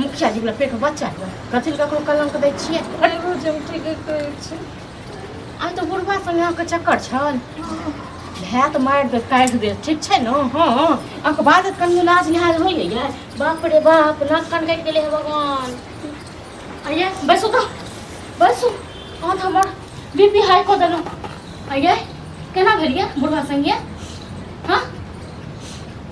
मुखिया जी वाला पेट बच्चा के कथी लए ककरो कलंक दै छियै अरे रोज हम ठीके कहै छी आ तो बुढ़बा संगे अहाँके चक्कर छल भए तऽ मारि देत काटि देत ठीक छै ने हँ अहाँके बाद कनि लाज लिहाज होइए यै बाप रे बाप नाक कान कटि गेलै हे भगवान अइए बैसू तऽ बैसू अहाँ तऽ हमर बी पी हाई कऽ देलहुँ अइए केना भेलियै बुढ़बा संगे हँ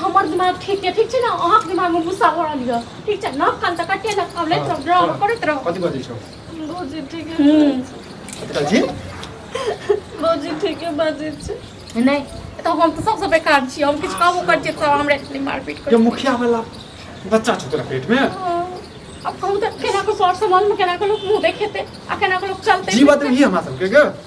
हमर दिमाग ठीक छै ठीक छै ने अहाँके दिमागमे गुस्सा भऽ रहल यऽ ठीक छै नख कान तऽ कटे लग आब लैत रहब ड्रामा करैत रहब कथी बजै छौ भौजी ठीक कथी जी भौजी ठीक बाजै छै नहि तऽ हम तऽ सबसँ बेकार छी हम किछु कामो करै छियै तऽ हमरा एतनी मारपीट कर मुखिया वाला बच्चा छौ तोरा पेट में अब कहूँ तक केना को सर समाज में केना को लोग मुंह देखेते आ केना को लोग चलते जीवा देही हमरा सबके के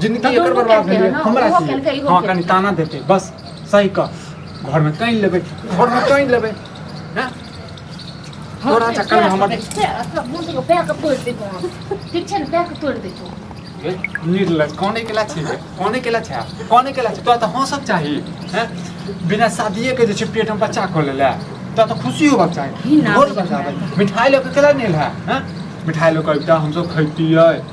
जिनकी एकर दुनू बर्बाद केलकै भेलै हँ, हमरा ओहो की केलकै, इहो हँ कनि केलकै। ताना देतै बस सही कह घरमे कानि लेबै घरमे कानि लेबै हँ तोरा चक्करमे हमर ठीक छै ने पैक तोड़ि दै छौ निर्लज कौने केला छै ये? कौने केला छै कौने केला छै तोरा तऽ हँसक चाही हैं बिना शादिये के जे छै पेट में बच्चा खोले ले तोरा तऽ खुशी होबक चाही घी ना ढोल मिठाई। बजाबै मिठाई लऽ के केला नहि ला हैं मिठाई लऽ के अबिता हमसब खैतियै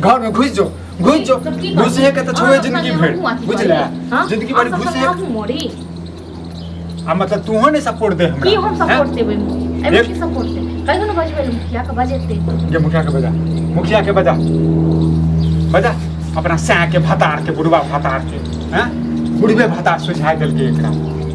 घर में घुस जाओ घुस जाओ घुस है कहता छोड़े जिंदगी भेड़ बुझ ले जिंदगी भर घुस है आ मतलब तू हो ने सपोर्ट दे हमरा की हम सपोर्ट देबे एमे की सपोर्ट दे कहियो न बजबे मुखिया के बजेते जे मुखिया के बजा मुखिया के बजा बजा अपना सैया के भतार के बुढ़वा भतार के हैं बुढ़वे भतार सुझाय देलके एकरा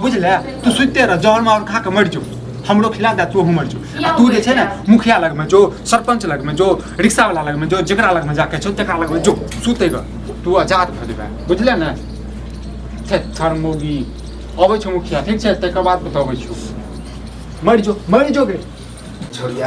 बुझले तू सुते रह जहर मार खा के मर जो हमरो खिला दे तू हमर जो आ तू जे छै ने मुखिया लग में जो सरपंच लग में जो रिक्शा वाला लग में जो जेकरा लग में जाके छो तेकरा लग में जो सुते रह तू आजाद भ जेबे बुझले ने थे थर्मोगी अबै छौ मुखिया ठीक छै तकर बाद बताबै छौ मर जो मर जो गे छोड़िया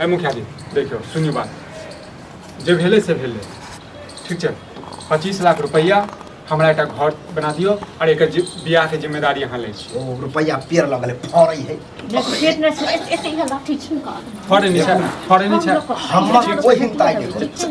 है मुखिया जी देखियो सुनियो बात जे भेले से भेले ठीक छै पच्चीस लाख रुपैआ हमरा एकटा घर बना दियो और एक बियाह के जिम्मेदारी अहाँ ले छी ओ रुपैआ पेड़ लगले फड़ै है पेट में से एते ही लाठी छिनका फड़े नहीं छै फड़े नहीं छै हमर कोई हिंता के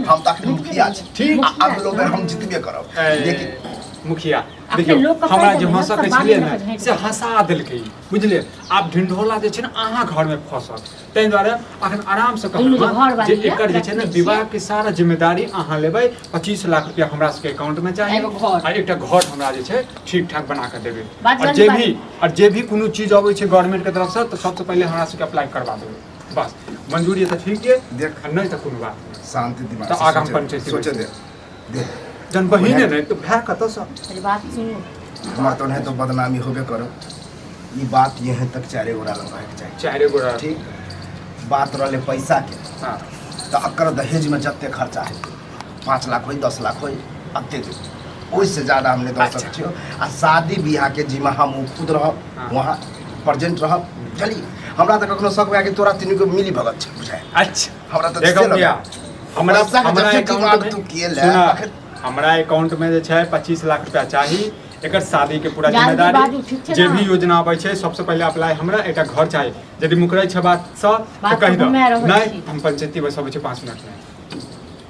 हम तक मुखिया छी ठीक आ अगलो बेर हम जितबे करब लेकिन मुखिया देखियो हमरा जे हंसा के छिए ने से हंसा देलकै बुझलियै आब ढिंढोला जे छै ने अहाँ घरमे फँसल ताहि दुआरे अखन आरामसँ कहलहुँ हँ जे एकर जे छै ने विवाहके सारा जिम्मेदारी अहाँ लेबै पच्चीस लाख रुपया हमरा सबके अकाउंटमे चाही आ एकटा घर हमरा जे छै ठीक ठाक बना कऽ देबै आओर जे भी आओर जे भी कोनो चीज अबै छै गवर्नमेंटके तरफसँ तऽ सबसँ पहिले हमरा सबके अप्लाई करबा देबै बस मंजूरी तऽ ठीक यऽ देख नहि तऽ कोनो बात शांति दिमाग तऽ आगाँ पंचायत जन बहिने नहीं तो भय कत से अरे बात सुनू हमरा तो नहीं तो बदनामी होबे करो ई बात यहाँ तक चारे गोड़ा लग रहे चाहिए चारे गोड़ा ठीक बात रहले पैसा के हाँ तो अकर दहेज में जते खर्चा है पाँच लाख होई दस लाख होई अते दे ओहिसे ज्यादा हमने दस अच्छा। लाख छियो आ शादी ब्याह के जिम्मा हम ऊ खुद रहब हाँ। वहाँ प्रेजेंट रहब चली हमरा तो कखनो शक हुआ कि तोरा तीनू के मिली भगत छै बुझाय अच्छा हमरा तऽ देखो ठीके भैया लगल। हमरा पैसा के हमरा जब तू अकाउंट तू किए ले, में आखिर- हमरा अकाउंट में जे छै पच्चीस लाख रुपया चाही एकर शादी के पूरा जान के बाजू, जिम्मेदारी ठीक छै जे ने? भी योजना आबै छै सबसे पहिले अप्लाई हमरा एकटा घर चाही यदि मुकरै छै बात सँ तऽ बात कहि तऽ दो हमे रहै नहि छी। हम पंचायती बस अबै छै पाँच मिनट में